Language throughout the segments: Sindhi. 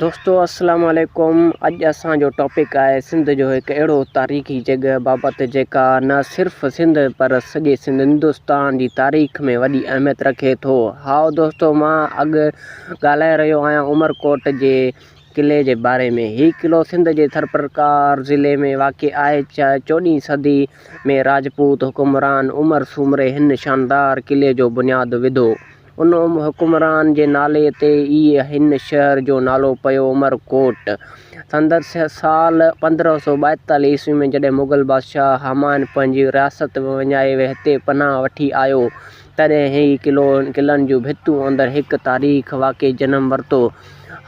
دوستو السلام عليڪم اڄ اسان جو ٽاپڪ آهي سنڌ جو هڪ اهڙو تاريخي جڳهه بابت جيڪا نه صرف سنڌ پر سڄي سنڌ هندوستان جي تاريخ ۾ وڏي اهميت رکي ٿو هائو دوستو مان اڳ ڳالهائي رهيو آهيان عمر ڪوٽ جي قلعي جي باري ۾ هي قلعو سنڌ جي ٿرپرڪار ضلعي ۾ واقع آهي چوڏهين صدي ۾ راجپوت حڪمران عمر سومري هن شاندار قلعي جو بنياد وڌو ان حڪمران جي نالي تي ئي هن شهر جو نالو پيو عمر ڪوٽ. سندس سال پندرهن سؤ ٻائيتاليهه عيسوي ۾ جڏهن مغل بادشاهه همايون پنهنجي رياست وڃائي هتي پناهه وٺي آيو، تڏهن هي قلعو ۽ قلعن جون ڀتيون اندر هڪ تاريخ واقعي جنم ورتو.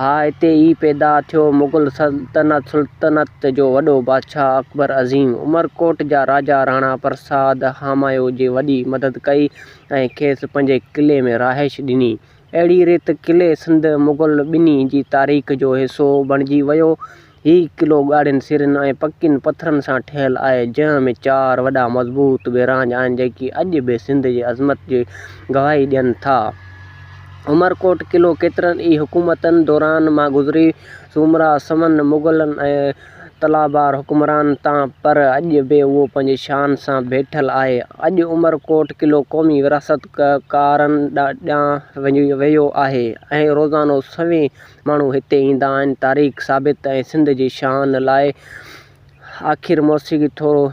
اها هتي ئي پيدا ٿيو. مغل سلطنت جو وڏو بادشاهه اڪبر عظيم، عمر ڪوٽ جا راجا راڻا پرساد همايون جي وڏي مدد ڪئي. ۽ کيس پنهنجي قلعي ۾ رهائش ڏني. اهڙي ريت قلعي سنڌ مغل ٻنهي جي تاريخ جو حصو بڻجي ويو. هي قلعو ڳاڙهين سرن ۽ پڪين پٿرن سان ٺهيل آهي، جنهن ۾ چار وڏا مضبوط بيراج آهن، جيڪي اڄ به سنڌ جي عظمت جي گواهي ڏين ٿا. عمرڪوٽ قلعو ڪيترن ئي حڪومتن دوران مان گذري سومرا، سمن، مغلن ۽ تلابار حڪمران تان پر اڄ به اهو پنهنجي شان سان بيٺل آهي. اڄ عمر ڪوٽ قلعو قومي ورهاست ڪارن ڏانهن ويو آهي ۽ روزانو سوين ماڻهو هتي ايندا آهن تاريخ ثابت ۽ سنڌ جي شان لاء آخر موسيقي ٿورو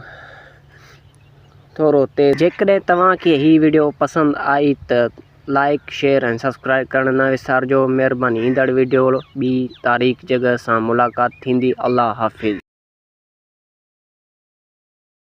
ٿورو تيز. جيڪڏهن توهان کي هي وڊيو پسند آئي ته لائيڪ شيئر ۽ سبسڪرائيب ڪرڻ نه وسارجو مھرباني ايندڙ ويڊيو ٻي تاريخ جڳھ سان ملاقات ٿيندي الله حافظ.